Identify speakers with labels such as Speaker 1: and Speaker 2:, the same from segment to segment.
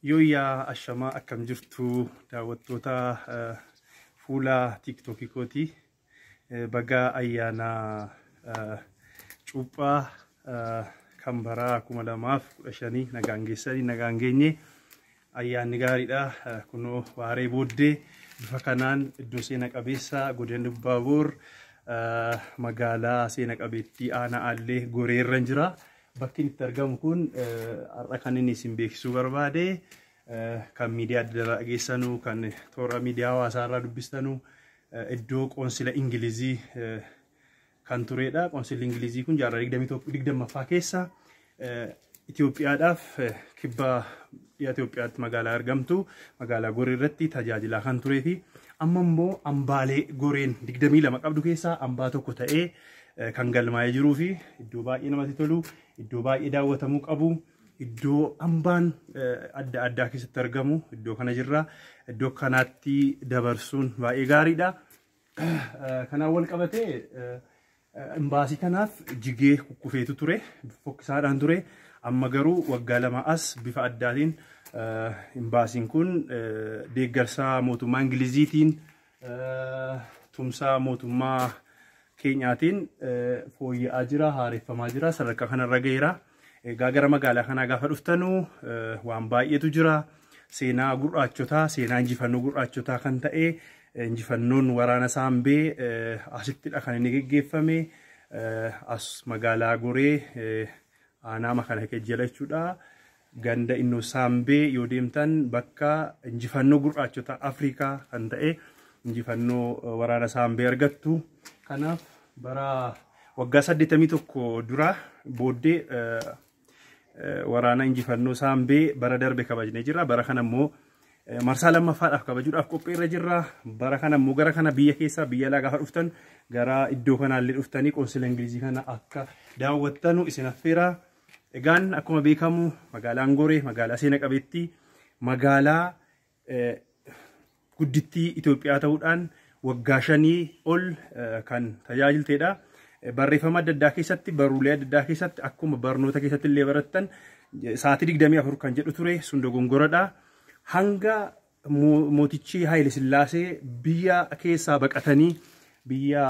Speaker 1: Yooyyaa ashamaa akkam jirtu daawwattoota eh, fuula tiiktookii kooti Eh, bagaa ayyaana eh, cuuphaa eh, kan baraa kuma lamaaf kudha shanii nagaan geessanii nagaan geenye ayyaanni gaariidha Eh, kunoo waaree booddee bifa kanaan iddoo seena qabeessa godina Lubbaaboor eh, magaalaa seena qabeettii aanaa Aallee goreerran jira Bakkin itti argamu kun har'a kan inni isin beeksisuu barbaade kan miidiyaa adda addaa dhageessanu kan toora miidiyaa hawaasaa irraa dubbistanu iddoo qoonsila Ingilizii kan turedha. Qoonsilli Ingilizii kun jaarraa 20ffaa keessa Itoophiyaadhaaf kibba Dhiha Itoophiyaatti magaalaa argamtu magaalaa Goree irratti tajaajilaa kan turee fi amma immoo ambaalee Goreen 22 qabdu keessaa ambaa tokko ta'ee eh, kan galmaa'ee jiruu fi iddoo baay'ee namatti tolu, iddoo baay'ee daawwatamuu qabu, iddoo ambaan eh, adda addaa keessatti argamu iddoo kana jirra. Iddoo kanaatti dabarsuun baay'ee gaariidha. Kanaan wal qabatee imbaasii kanaaf jigee kukkufeetu ture fokkisaadhaan ture amma garuu waggaa lama as bifa addaatiin imbaasiin kun deeggarsaa mootummaa ingiliziitiin tumsaa mootummaa keenyaatiin fooyya'aa jira haareffamaa jira sadarkaa kanarra gaheera. Egaa gara magaalaa kanaa gaafa dhuftanu waan baay'eetu jira. Seenaa gurraachotaa, seenaa injifannoo gurraachotaa kan ta'e injifannoon waraana saambee asittidha kan inni geggeeffame. As magaalaa goree aanaa makana kejjela jechuudha. Ganda innoo saambee yoo deemtan bakka injifannoo gurraachotaa Afrikaa kan ta'e injifannoo waraana saambee argattu. Kanaaf bara Waggaa 81 dura booddee waraana injifannoo saambee bara darbe kabajne jira. Bara kana immoo marsaa lammaffaadhaaf kabajuudhaaf qophii irra jirra. Bara kana immoo gara kana biyya keessaa biyya alaa gaafa dhuftan gara iddoo kanaallee dhuftanii qoonsila Ingilizii kana akka daawwattanu isin affeera. Egaan akkuma beekamu magaalaan Goree magaalaa seena qabeettii magaalaa guddittii Itoophiyaa ta'uudhaan waggaa shanii ol kan tajaajilteedha. Barreeffama adda addaa keessatti, barruulee adda addaa keessatti, akkuma barnoota keessatti illee barattan sa'aatii digdamii afur kan jedhu ture sun dogongoradha. Hanga mootichi Haayile Sillaasee biyya keessaa baqatanii biyya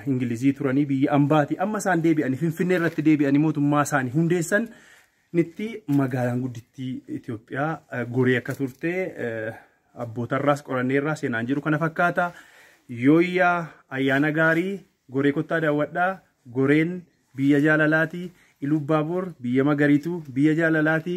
Speaker 1: Ingilizii turanii biyya ambaati amma isaan deebi'anii Finfinnee irratti deebi'anii mootummaa isaanii hundeessan Nitti magaalaan guddittii Itoophiyaa goree akka turte abbootarraas qoranneerraa seenaan jiru kana fakkaata. Yooyyaa ayyaana gaarii goree kottaa daawwadhaa goreen biyya jaalalaati. Ilubbaaboor biyya magariitu biyya jaalalaati.